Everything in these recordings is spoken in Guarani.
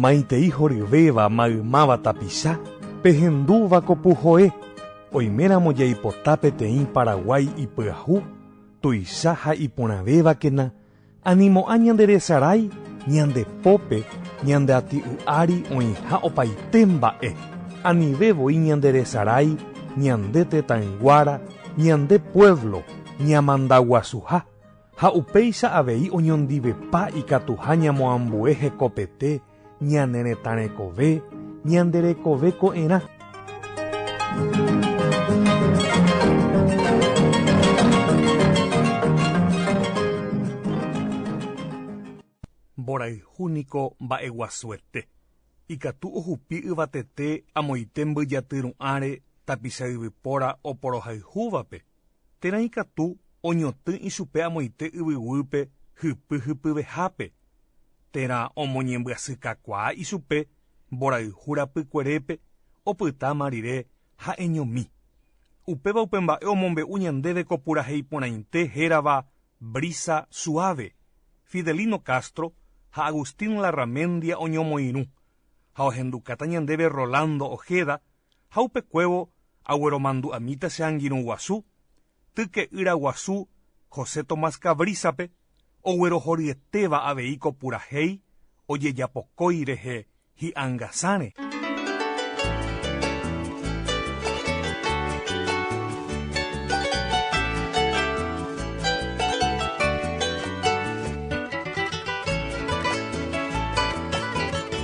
Maitei horyvéva maymáva tapicha pehendúva ko puhoe, oiméramo jaipota peteĩ Paraguái ipyahu, tuicha ha iporãvévakena Animo'ã ñande resarái ñande pópe ñande ati'y ári oĩha opaite mba'e, anive voi ñande resarái ñande tetãyguára, ñande puévlo ñamandaguasuha ha upéicha avei oñondivepa ikatuha ñamoambue hekopete, Ñane retã rekove, ñande rekove ko'ẽrã. Mborayhu niko mba'eguasuete. Ikatu ohupi yvatete amoite mbyjaty ru'ãre tapicha yvypóra oporohayhúvape. Térã ikatu oñotỹ ichupe amoite yvyguýpe hypy hypyvehápe, térã omoñembyasykakuaa ichupe mborayhu rapykuerépe opytáma rire ha'eñomi. Upéva upe mba'e omombe'u ñandéve ko purahéi porãite hérava Brisa suave, Fidelino Castro ha Agustín Larramendia oñomoirũ, ha ohendukáta ñandéve Rolando Ojeda, ha upekuévo agueromandu'amíta che angirũ guasu, tyke'ýra guasu José Tomás Cabrízape oguerohoryetéva avei ko purahéi ojejapokói rehe hi'angasãre.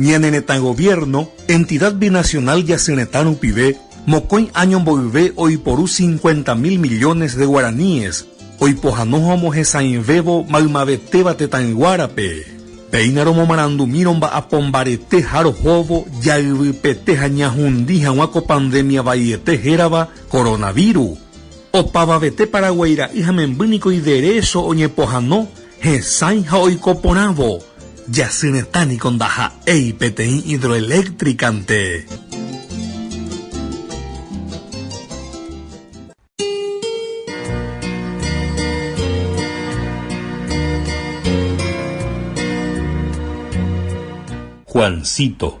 Ñane retã gobierno entidad binacional jasy retã rupive mokõi año mboyve oiporu 50.000 millones de guaraníes oipohano ha omohesãivévo maymavetéva tetãyguárape. Péina romomarandumírõ mba'apo mbarete ha rohóvo jayvypete ha ñahundi hag̃ua ko pandemia vaiete hérava coronavirus. Opavavete Paraguái ra'y ha memby niko iderécho oñepohano, hesãi ha oiko porãvo. Jasy retã niko ndaha'éi peteĩ hidroeléctricante. Juancito.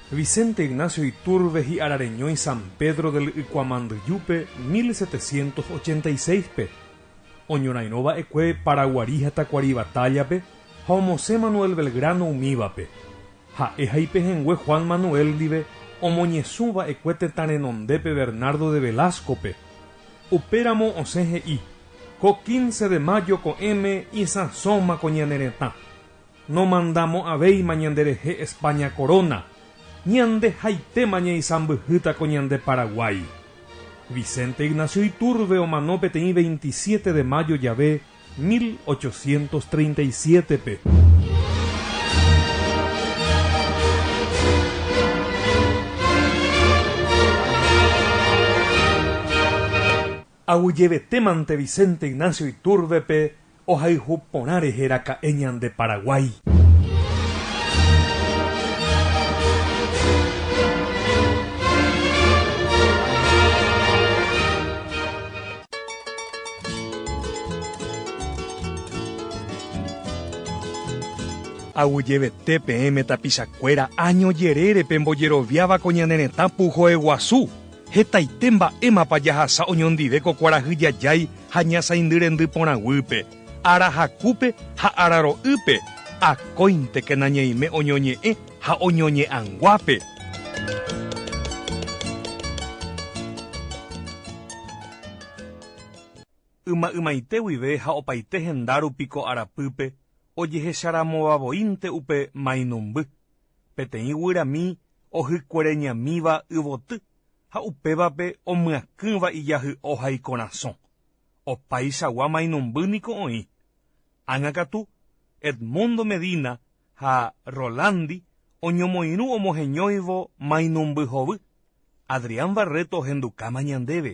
Vicente Ignacio Iturbe hi'arareñói San Pedro del Ykuamandyjúpe mil setecientos ochenta y seis-pe, oñorairõ va'ekue Paraguari ha Tacuari Batalla-pe ha omosẽ Manuel Belgrano umívape, ha'e ha ipehẽngue Juan Manuel ndive omoñesũ va'ekue tetã renondépe Bernardo de Velasco-pe, upéramo osẽ he'i, Ko quince de mayo ko'ẽme isãsóma ko ñane retã. Nomandamo'ãvéima ñanderehe España koróna, ñandehaitéma ñaisãmbyhýta ko ñande Paraguái. Vicente Ignacio Iturbe omano peteĩ 27 de mayo jave 1837-pe. Aguyjevetémante Vicente Ignacio Iturbe-pe, Ohayhu porã rehe raka'e ñande Paraguái. Aguyjevete peẽme tapichakuéra año jerére pembojeroviáva ko ñane retã puhoeguasu. Hetaite mba'émapa jahasa oñondive ko kuarahy jajái ha ñasãindyrendy porãguýpe, ára hakúpe ha ára ro'ýpe, akóintekena ñaime oñoñe'ẽ ha oñoñe'ãnguápe. Yma ymaite guive ha opaite henda rupi ko arapýpe ojehecharamovavoínte upe mainumby, peteĩ guyramí ohykuereñamíva yvoty ha upévape omyakỹva ijahy'o ha ikorasõ. Opaichagua mainumby niko oĩ. Ág̃a katu, Edmundo Medina ha Rolandi oñomoirũ omoheñóivo mainumby hovy. Adrián Barreto ohendukáma ñandéve.